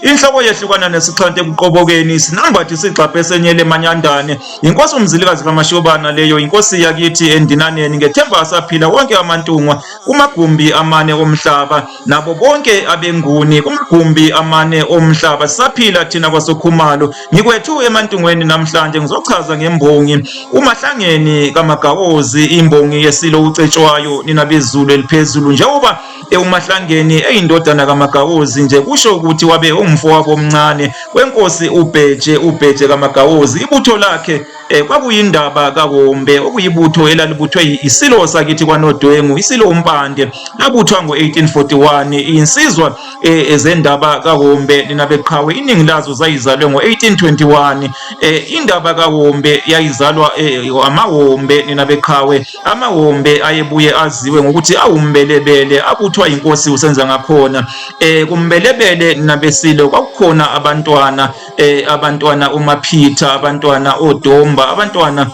Inhloko yehlukana nesixhanti ekuqobokeni sinambathi sigxabhe esenyele manyandane. Yinkosi umzilikazi kamashobana leyo inkosi yakithi endinaneni ngethemba asaphila wonke amantungwa kumagumbi amane omhlaba nabo bonke abenguni kumagumbi amane omhlaba sisaphila thina kwasokhumalo ngikwethu emantungweni namhlanje ngizochaza ngembongi umahlangeni kamagawozi imbongi yesilo ucetshwayo nina bezulu eliphezulu njengoba ewuMahlangeni eyindodana kaMagawuzi nje kusho ukuthi wabe umfowabo omncane wenkosi uBheje uBheje kaMagawuzi ibutho lakhe eh, kwakuyindaba kaWombe okuyibutho elalibuthwe isilo sakithi kwaNodwengu isilo uMpande labuthwa ngo-1841 iyinsizwa eh, ezendaba kaWombe linabeqhawe iningi lazo zayizalwe ngo-1821 eh, indaba kaWombe yayizalwa eh, amaWombe ninabeqhawe Amawombe ayebuye aziwe ngokuthi awumbelebele abuthwa inkosi usenza ngakhona eh kumbelebele nabesilo kwakukhona abantwana eh abantwana uMaphitha abantwana oDomba abantwana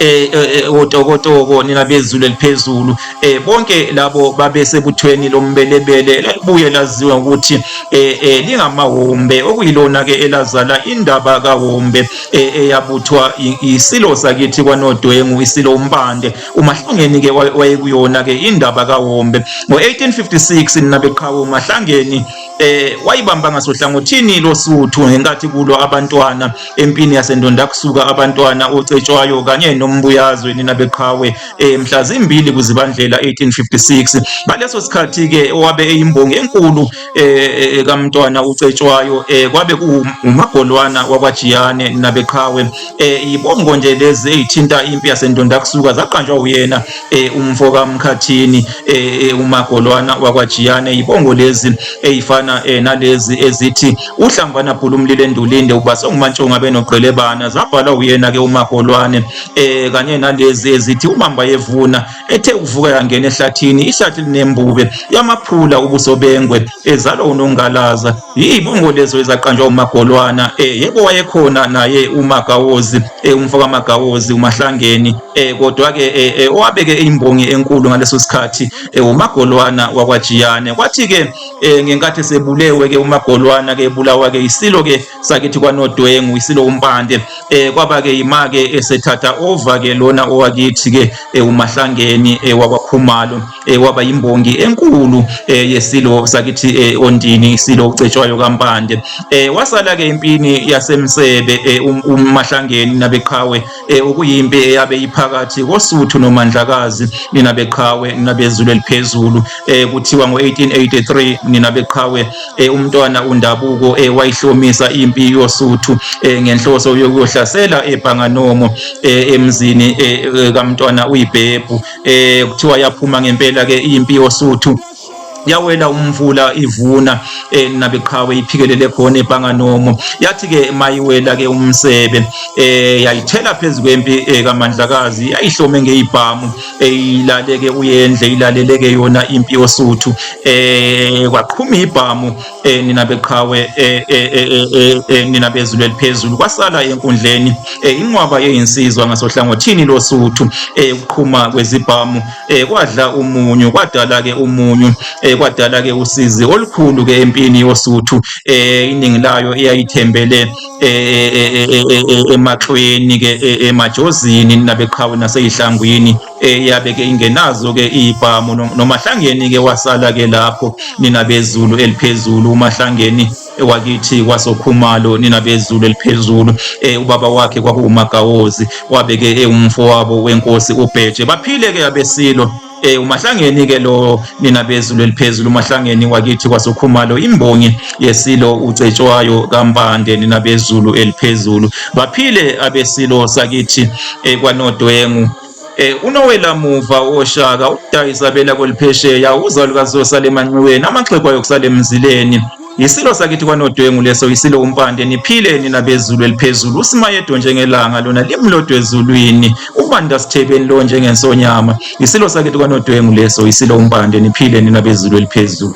Eh, eh, eh, otokotoko nina bezulu eliphezulu eh bonke labo babesebuthweni lombelebele lalibuye laziwa ukuthi eh, eh lingamawombe okuyilona ke elazala indaba kawombe e, eyabuthwa isilo sakithi kwanodwengu isilo umbande umahlungeni ke wayekuyona ke indaba kawombe ngo-1856 nina beqhawe umahlangeni eh wayibamba ngasohlangothini losuthu ngenkathi kulwa abantwana empini yasendonda kusuka abantwana ocetshwayo kanye nombuyazwe nina beqhawe eh mhla zimbili kuzibandlela 1856 ngaleso sikhathi ke owabe eyimbongi enkulu eh, eh kaMntwana uCetshwayo eh kwabe kuwumagolwana wakwaJiyane nabeqhawe eh ibongo nje lezi ezithinta impi yasendonda kusuka zaqanjwa uyena eh umfo kaMkhathini eh, eh umagolwana wakwaJiyane ibongo lezi ezifana eh, nalezi ezithi uhlambana bhulumlile endulinde ubase ngumantshonga benogqelebana zabhalwa uyena ke umagolwane eh kanye nalezi ezithi umamba yevuna ethe kuvuka yangena ehlathini ihlathi linembube yamaphula ubuso bengwe ezalwa unongalaza yibongo lezo ezaqanjwa umagolwana e yebo wayekhona naye umagawozi e umfo kamagawozi umahlangeni e kodwa ke e, e, owabeke imbongi enkulu ngaleso sikhathi e, umagolwana wakwajiyane kwathi ke e, ngenkathi sebulewe ke umagolwana ke bulawa ke isilo ke sakithi kwanodwengu isiloku mpande eh kwaba-ke yima-ke esethatha ova-ke lona owakithi-ke eh, umahlangeni eh, wakwakhumalo eh, waba yimbongi enkulu eh, yesilo sakithi eh, ondini isilo ucetshwayo kampande eh, wasala-ke impini yasemsebe eh, um, umahlangeni nabeqhawe e, okuyimpi eyabe iphakathi kosuthu nomandlakazi nina beqhawe nina bezulu eliphezulu e, kuthiwa ngo-1883 nina beqhawe e, umntwana undabuko e, wayihlomisa impi yosuthu e, ngenhloso yokuyohlasela ebhanganomo e, emzini e, e kamntwana uyibhebhu e, kuthiwa yaphuma ngempela-ke impi yosuthu yawela umvula ivuna eh, nabeqhawe iphikelele khona ebhanganomo yathi ke mayiwela ke umsebe eh yayithela phezulu kwempi eh, kamandlakazi yayihlome ngeibhamu eyilaleke eh, uyendle ilaleleke yona impi yosuthu eh kwaqhuma ibhamu eh nina beqhawe eh, eh, eh, nina bezulu eliphezulu kwasala enkundleni inqwaba yeyinsizwa ngasohlangothini losuthu ukuqhuma kwezibhamu kwadla umunyu kwadala ke umunyu kwadala ke usizi olukhulu ke empini yosuthu iningi layo eyayithembele emaxweni ke emajozini nabeqhawe naseyihlangwini eh, yabe ke ingenazo ke ibhamu nomahlangeni ke wasala ke lapho nina bezulu eliphezulu umahlangeni wakithi kwasokhumalo nina bezulu eliphezulu eh, ubaba wakhe kwakuwumagawozi wabe ke ewumfowabo wenkosi ubheje baphile ke abesilo eh umahlangeni ke lo nina bezulu eliphezulu umahlangeni wakithi kwasokhumalo imbongi yesilo ucetshwayo kampande nina bezulu eliphezulu baphile abesilo sakithi eh, kwanodwengu Eh unowela muva oshaka ukudayisa bela kweliphesheya uzalo kazosa lemanxiweni amaxhego ayo kusale emzileni Yisilo sakithi kwanodwengu leso yisilo umpande niphile nina bezulu eliphezulu usimayedwa njengelanga lona limlodwe ezulwini ubanda sithebeni lo njengensonyama yisilo sakithi kwanodwengu leso yisilo umpande niphile nina bezulu eliphezulu